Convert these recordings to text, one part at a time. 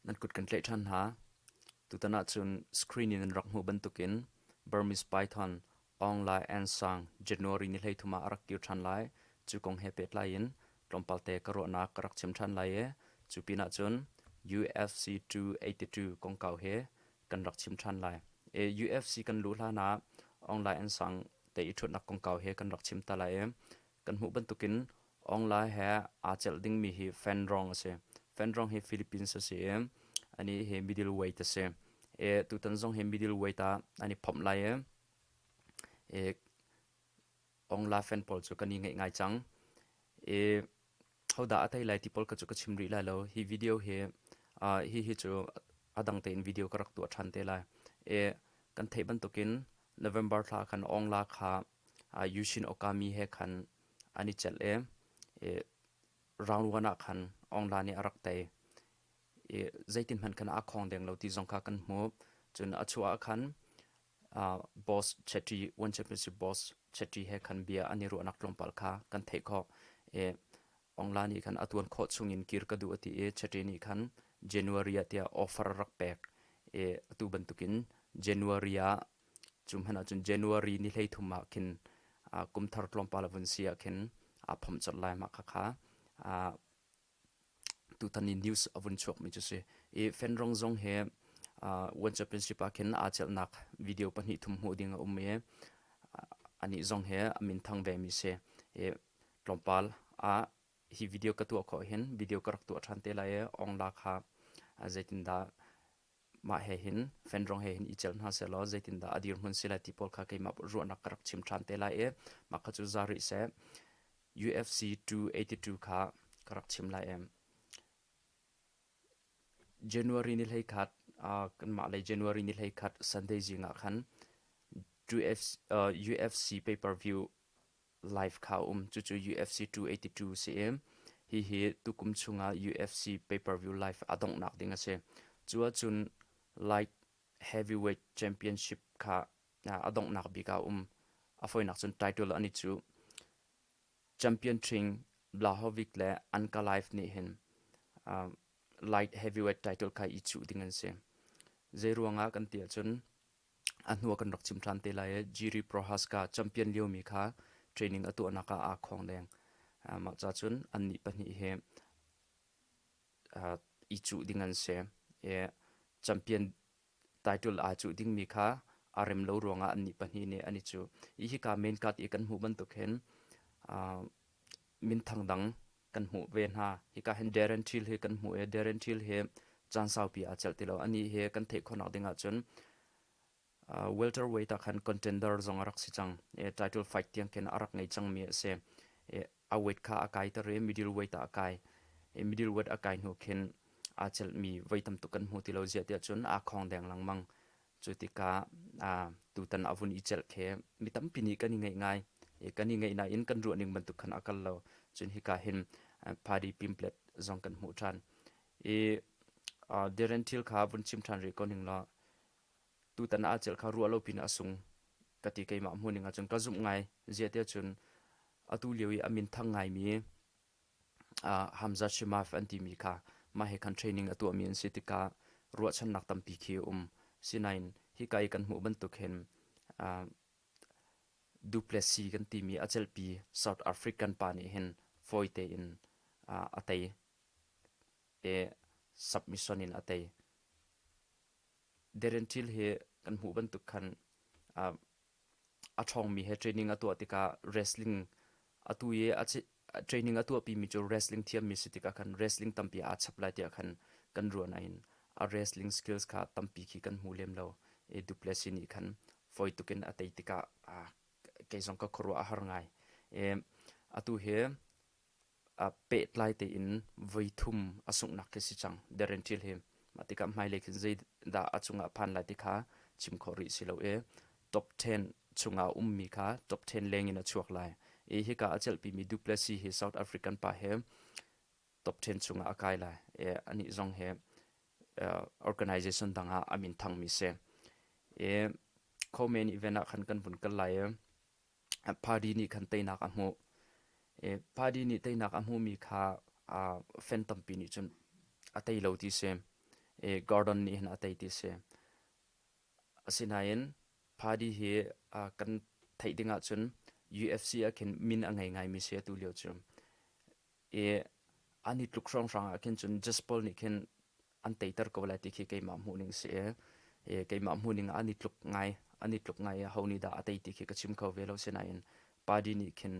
Nan kut kan tlaih ṭhan hna. Tutan ahcun screen in an rak hmuh bantukin Burmese Python, Aungla Ansang, January ni hleithum ah a rak kir ṭhan lai. Cu kong he pehtlai in tlawmpalte ka ruahnak ka rak chim ṭhan lai i cu pinah cun UFC 282 kongkau he kan rak chim ṭhan lai. I UFC kan luh hlanah Aungla Ansang te i ṭhutnak kongkau he kan rak chim ta lai i Kan hmuh bantukin Aung Lae he aa celh dingmi hi Fanrong a si. Fanrong hi Philippines a si i, a nih hi middleweight a si. I tutan zong hi middleweight ah an i phomh lai i, i Aung La fan pawl cu kan i ngeih ngai cang. I hodah a tei lai ti pawl ka cu ka chim rih lai lo. Hi video hi, uh, hi hi cu a dang tein video ka rak tuah ṭhan te lai. I kan theih bantukin November thla khan Aung La kha Yushin Okami he khan an i celh i roundwan ah khan Aung La nih a rak tei i zeitin hmanh khan a khawng deng lo ti zong kha kan hmuh. Cun a chuah ah khan boss Chetty, One Championship boss Chetty he khan bia an i ruahnak tlawmpal kha kan theih khawh i Aung La nih khan a tuan khawh chung in kir ka duh a ti i Chetty nih khan January ah tiah offer a rak pek i atu bantuk in January ah Cu hmanh ahcun January ni hleithum ah khin uh, kum thar tlawmpal a vun si ah khin aa phomh colh lai mah khakha. Uh, tutan i news a vun chuakmi cu si. I Fenrong zong he uh, World Championship ah khin aa celhnak video pahnih thum hmuh ding a um i uh, anih zong he a min thang vemi si. I tlawmpal ah hi video ka tuah khawh hin video ka rak tuah ṭhan te lai i ong la kha uh, zeitindah Mah he hin fenrong he hin i celh hna sehlaw zeitindah a dirhmun si lai ti pawl kha keimah ruahnak ka rak chim ṭhan te lai i mah kha cu za rih seh. UFC 282 kha ka rak chim lai em? January ni hlei khat uh, kanmah lei January ni hlei khat Sunday zing ah khan UFC, uh, UFC pay per view live kha a um. Cucu UFC 282 si i, hihi tukum chungah UFC pay-per-view live aa donghnak ding a si. Cu ahcun light heavyweight championship kha a donghnak bik ah a um. A fawinak cun title an i cu. Champion King Blahovic le Ankalaev nih hin light heavyweight title kha i cuh ding an si. Zei ruangah kan ti ahcun a hnu ah kan rak chim ṭhan te lai i Jiri Prohaska champion liomi kha training a tuahnak ah aa khawng leng. Uh, mah ca cun annih pahnih hi uh, i cuh ding an si. I champion title aa cuh dingmi kha a rem lo ruangah annih pahnih nih an i cuh. I hika main card i kan hmuh bantuk hin uh, minthang dang kan hmuh ve hna. Hika hin Darren Till hi kan hmuh i Darren Till hi caan saupi aa celh ti lo. Anih hi kan theih khawhnak ding ahcun uh, welterweight ah khan contender zong a rak si cang. E, title fight tiang khin a rak ngei cangmi a si. E, a weight kha a kaiter i middleweight ah a kai. E, middleweight a kai hnu khin aa celhmi voi tam tuk kan hmu ti lo ziah tiah cun aa khawng deng lengmang. Cu tikah tutan a vun i celh khi mi tampi nih kan i ngaih ngai. Kan i ngaih nain kan ruah ning bantuk khan a kal lo. Cun hika hin party pimphlet zong kan hmuh ṭhan. I Darren Till kha vun chim ṭhan rih ko ning law, tutan a celh kha ruah lo pin a sung ka ti keimah hmuh ning ahcun ka zumh ngai. Ziah tiah cun atu lio i a minthang ngaimi Hamza Shimaf an timi kha mah hi khan training a tuahmi an si tikah ruahchannak tampi khi a um. Sinain hika i kan hmuh bantuk hin Duplessis kan timi a celhpi South African pa nih hin fawi tein a tei i submission in a tei. Darren Till hi kan hmuh bantuk khan a ṭhawngmi he training a tuah tikah wrestling atu i a training a tuahpimi cu wrestling thiammi si tikah khan wrestling tampi aa chap lai tiah khan kan ruah nain a wrestling skills kha tampi khi kan hmu lem lo i Duplessis nih khan fawi tukin a tei tikah kei zong ka khuaruah a har ngai. atu hi aa pehtlai tein voithum a sunghnak khi si cang deren thil hi mah tikah hmailei khin zeidah a cungah phan lai ti kha chim khawh rih si lo i top 10 chungah ummi kha top 10 lengin a chuak lai i hika a celhpimi Duplessis hi South African pa he top 10 chungah a kai lai i anih zong he uh, organization dangah a min thangmi si i co main event ah khan kan vun kal lai i Party nih khan teinak a hmuh. I party nih teinak a hmuhmi kha uh, fan tampi nih cun a tei lo ti si. I Gordon nih hin a tei ti si. Asinain party hi uh, kan theih ding ahcun UFC ah khin min a ngei ngaimi si atu lio cu. i an i tluk hrawnghrang ah khin cun jaspol nih khin an teiter ko lai ti khi keimah hmuhning si i i keimah hmuhning ah an i tluk ngai an i tluk ngai i ho nih dah a tei ti khi ka chim kho ve lo sinain party nih khin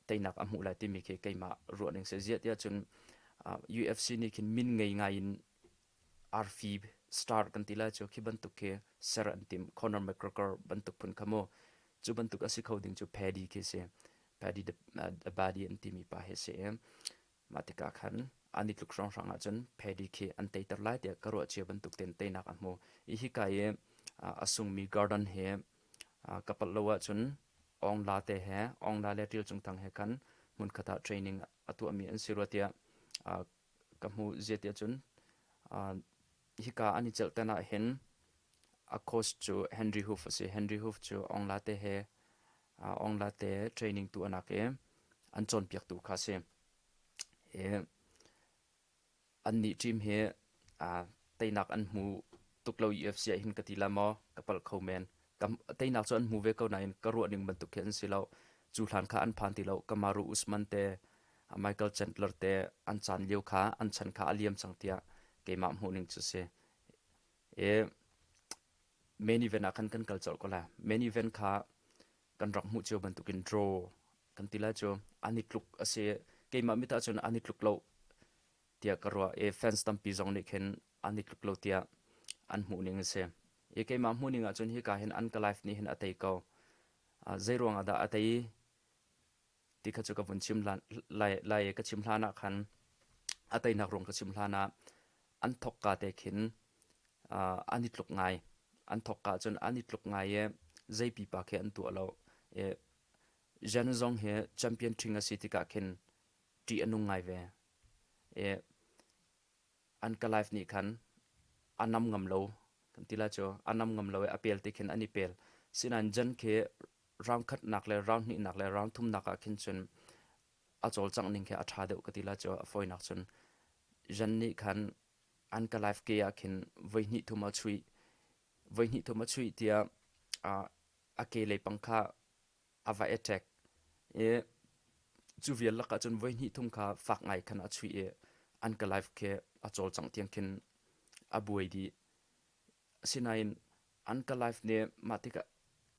teinak a hmuh lai timi khi keimah ruahning si ziah tiah cun UFC nih khin min ngei ngai in arfi star kan ti lai cu khi bantuk khi ser an tim Conor McGregor bantuk phun kha mu cu bantuk a si kho ding cu Paddy khi si Paddy the Body an timi pa hi si mah tikah khan an i tluk hrawnghrang ahcun Paddy khi an teiter lai tiah ka ruah cia bantuk ten teinak a hmu i hika i a sungmi Gordon he ka palh lo ahcun Ong La te he Ong La le Ṭil Cung Thang he khan hmunkhat ah training a tuahmi an si rua tiah ka hmuh ziati ahcun hika an i celh ten ah hin a coach cu Henry Hoof a si. Henry Hoof cu Aung Late he Aung Late training tu anak i an cawnpiak tu kha a si. I annih team hi teinak an hmu tuk lo UFC ah hin ka ti la maw ka palh kho men. Ka teinak cu an hmu ve ko nain ka ruahning bantuk khi an si lo. Cu hlan kha an phan ti lo. Kamaru Usman te, Michael Chandler te an caan lio kha an chan kha a liam cang tiah keimah hmuhning cu si. I main event ah khan kan kal colh ko lai. Main event kha kan rak hmuh cio bantukin draw kan ti lai cu. An i tluk a si. Keimah mit ahcun an i tluk lo. tiah ka ruah i fans tampi zong nih khin an i tluk lo tiah an hmuh ning a si i keimah hmuh ning ahcun hika hin an ka life nih hin a tei ko uh, zei ruang ah dah a tei ti kha cu ka vun chim lai lai ka chim hlan ah khan a teinak rung ka chim hlan ah an thok ka te khin uh, an i tluk ngai an thok ka cun an i tluk ngai i zei pipa khi an tuah lo e zhen zong hi champion thing a si tika khin ti anung ngai ve an ka life nih khan a nam ngam lo kan ti la cu a nam ngam lo i a pel te khin an i pel sinain jan khi round khatnak le round hnihnak le round thumnak ah khin cun a cawlcangh ning khi a ṭha deuh ka ti la cu a fawinak cun jan nih khan an ka life ke ah khin voi hnih thum a chuih voi hnih thum a chuih tiah a ke leipang kha a va attack i cu vial lakah cun voi hnih thum kha fak ngai khan a chuih i an ka life khi a cawlcang tiang khin a buai dih asinain an ka life nih mah tikah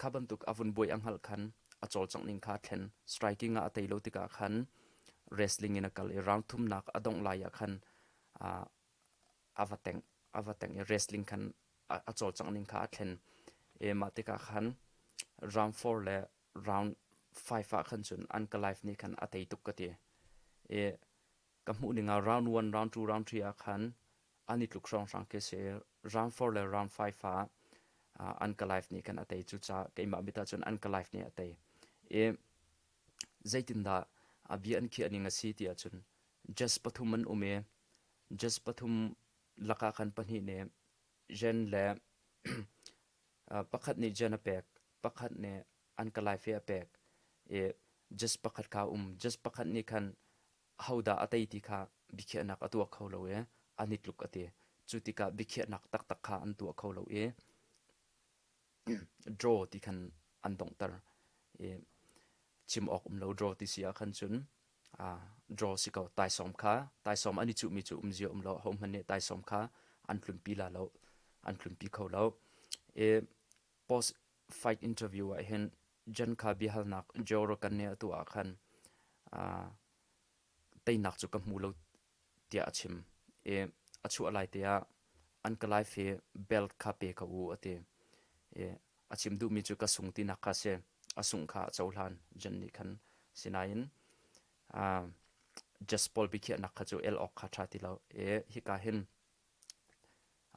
kha bantuk a vun buai a hngalh khan a cawlcang ning kha thlen striking ah a tei lo tikah khan wrestling in a kal i round thumnak a dongh lai ah khan a va teng a va teng i wrestling khan a cawlcangh ning kha a thlen i mah tikah khan round four le round five ah khan cun an ka life nih khan a tei tuk ka ti i ka hmuh ning ah round one round two round three ah khan an i tluk hrawnghrang khi si round four le round five ah an ka life nih khan a tei cu ca keimah mit ah cun an ka life nih a tei i zeitindah a bia an khiah ning a si tiah cun Jess pathum an um i Jess pathum lakah khan pahnih nih Jen le pakhat nih Jen a pek, pakhat nih an kalaife a pek i Jess pakhat kha um. Jess pakhat nih khan hodah a tei ti kha biakhiahnak a tuah kho lo i an i tluk a ti. Cu tikah biakhiahnak taktak kha an tuah kho lo i draw ti khan an donghter i chim awk um lo draw ti si ahkhan cun draw si ko taisawm kha taisawm an i cuhmi cu um zia um lo hohmanh nih taisawm kha an tlunpi la lo an tlunpi kho lo i post fight interview ah hin jen kha biahalnak jero kan ne atu ah khan teinak cu ka hmu lo tiah a chim i a chuah lai te ah an ka life hi belt kha pe ka u a ti i a chim duhmi cu ka sung tinak kha si a sungh kha a cohlan jen nih khan sinain jas pawl bikhiahnak kha cu el awk kha ṭha ti lo i hika hin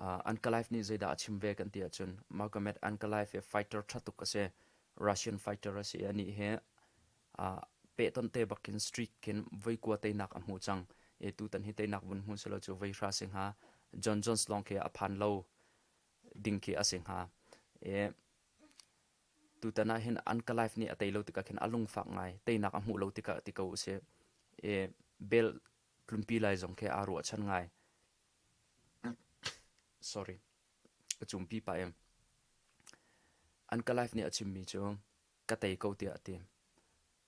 Ankalaev nih zeidah a chim ve kan ti ahcun Magomed Ankalaev hi fighter ṭha tuk a si. Russian fighter a si. Anih hi pehtonh te bakin streak khin voi kua teinak a hmu cang. Tutan hi teinak vun hmu selaw cu voi hra si hnga John Jones lawng khi a phan lo ding khi a si hnga. Tutan ah hin Ankalaev nih a tei lo tikah khin a lungfak ngai. Teinak a hmuh lo tikah ti ko u sih. Bell tlunpi lai zong khi aa ruahchan ngai. Sorry. A cumpi pa em. An ka life nih a chimmi cu ka tei ko tiah a ti.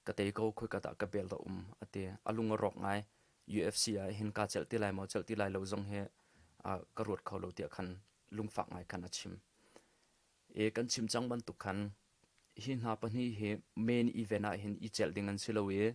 Ka tei ko khoi ka dah ka bel da um a ti. A lung a rawk ngai. UFC ah hin ka celh ti lai maw celh ti lai lo zong hi uh, ka ruat kho lo tiah khan lungfak ngai khan a chim. E kan chim cang bantuk khan hi hna pahnih hi main event ah hin i celh ding an si lo i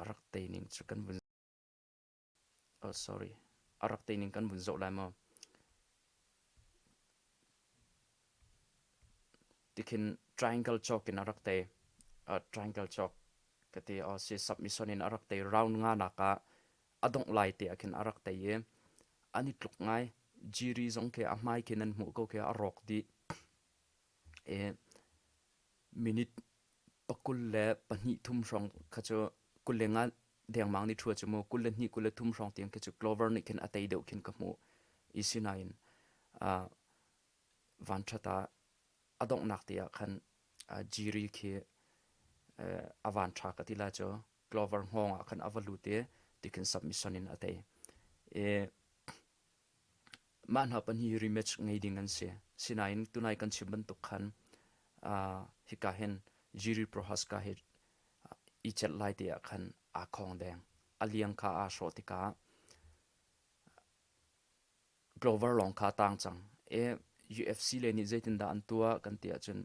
A rak tei ning kan vun zoh lai maw? Tikhin triangle cawk in a rak tei. triangle cawk ka ti. Si submission in a rak tei. Round nga nak ah a dongh lai te ah khin a rak tei i an i tluk ngai. Jiri zong ke a hmai khin an hmuh ko ke a rawk dih. I minute pakul le pahnih thum hrawng kha cu kul le nga dengmang ni thua chu mu kul le hnih kul le thum hrawng tiang kha chu clover nih khin a tei deuh khin ka hmu i sinain vanthata a donghnak te ah khan jiri khi a van tha ka tila chu clover ngong ah khan a va lut i tikhin submission in a tei i Mah hna pan hi rematch ngei ding an si. Sinain tunai kan chim bantuk khan uh, hika hin Jiri Prohaska hi uh, i chet lai te ah khan aa khong deng. A liang kha aa hrawh tikah Glover lawng kha tang cang. E UFC le nih zeitindah an tua kan ti ahcun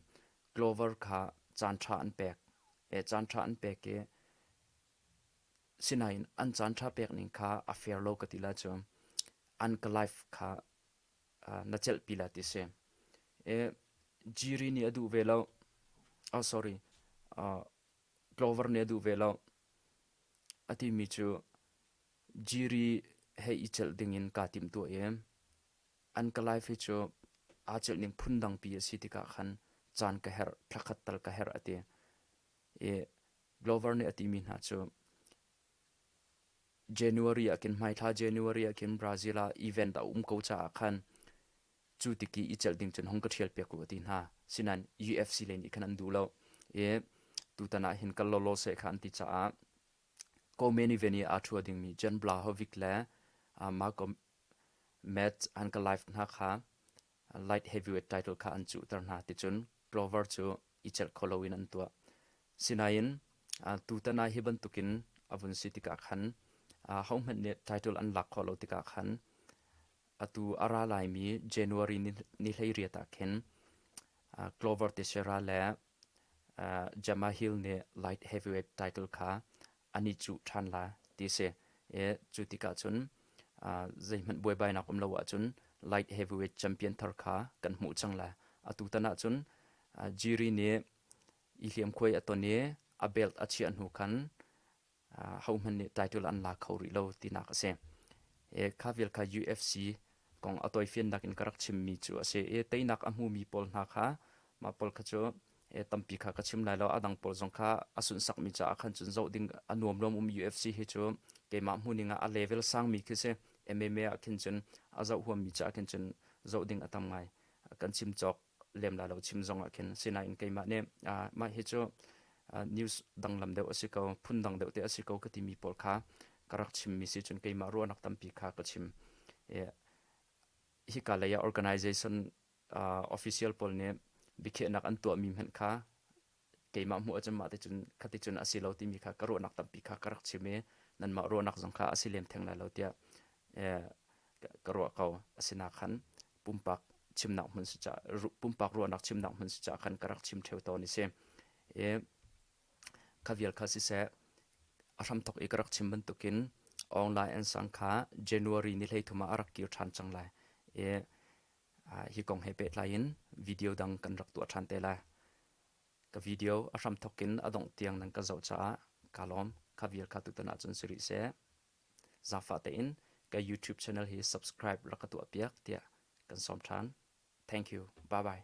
Glover kha caan tha an pek. E caan tha an pek i Sinain an caan ṭha pekning kha a fair lo ka ti la cu an ka life kha uh, na celhpi la ti si. E, Jiri nih a duh ve lo. Oh, sorry. Uh, Clover nih a duh ve lo. A timi cu Jiri he i celh dingin kaa tim tu e. An ka life hi cu aa celh ning phun dangpi a si tikah khan caan ka herh, thla khat tal ka herh a ti. i Glover nih a timi hna cu January ah khin hmaithla January ah khin Brazil ah event a um ko caah khan cu tiki i celh ding cun hong ka ṭhial piak u a ti hna sinain UFC len i khan an duh lo i tutan ah hin kal lawlaw seh kha an ti caah ko men even i aa ṭhua dingmi Jan Blahovic le uh, Marco Metz an ka live hna kha light heavyweight title kha an cuhter hna ticun Glover cu i celh kho loin an tuah. Sinain tutan ah hi bantukin a vun si tikah khan hohmanh nih title an lak kho lo tikah khan atu a ra laimi January ni hlei riat ah khin Glover Teixeira le Gemma Hill nih light heavyweight title kha an i cuh ṭhan lai ti a si. I cu tikah cun zeihmanh buaibainak um lo ahcun light heavyweight champion thar kha kan hmuh cang lai. Atu tan ahcun Jiri nih i hliamkhuai a ton i a belt a chiah hnu khan hohman nih title an la kho rih lo tinak a si. E, kha vial kha UFC kong a toifiannak in ka rak chimmi cu a si. E, teinak a hmumi pawl hna kha mah pawl kha cu e, tampi kha ka chim lai lo. A dang pawl zong kha a sunsakmi caah khan cun zoh ding a nuam luam um UFC hi cu keimah hmuning ah a level sangmi khi si MMA ah khin cun a zoh huammi caah khin cun zoh ding a tam ngai. Kan chim cawk lem la lo chim zong ah khin sinain keimah nih mah hi cu news danglam deuh a si ko phun dang deuh te a si ko ka timi pawl kha ka rak chimmi si cun keimah ruahnak tampi kha ka chim hi ka lei ah organization official pawl nih biakhiahnak an tuahmi hmanh kha keimah hmuh ahcun mah ticun khaticun a si lo timi kha ka ruahnak tampi kha ka rak chim i nanmah ruahnak zong kha a si lem theng lai lo tiah ka ruah ko asinaak khan pumpak chimnak hmun si ca pumpak ruahnak chimnak hmun si ca khan ka rak chim theo tawn i si i kha vial kha siseh a hramthok i ka rak chim bantukin online an sang kha january ni hlei thum ah a rak kir ṭhan cang lai i hi kong he pehtlai in video dang kan rak tuah ṭhan te lai. Ka video a hram thok in a dongh tiang nan ka zoh caah ka lawm. Kha vial ka tutan ahcun si rih seh. Zaangfah tein ka YouTube channel hi subscribe rak ka tuah piak tiah kan sawm ṭhan. Thank you. Bye bye.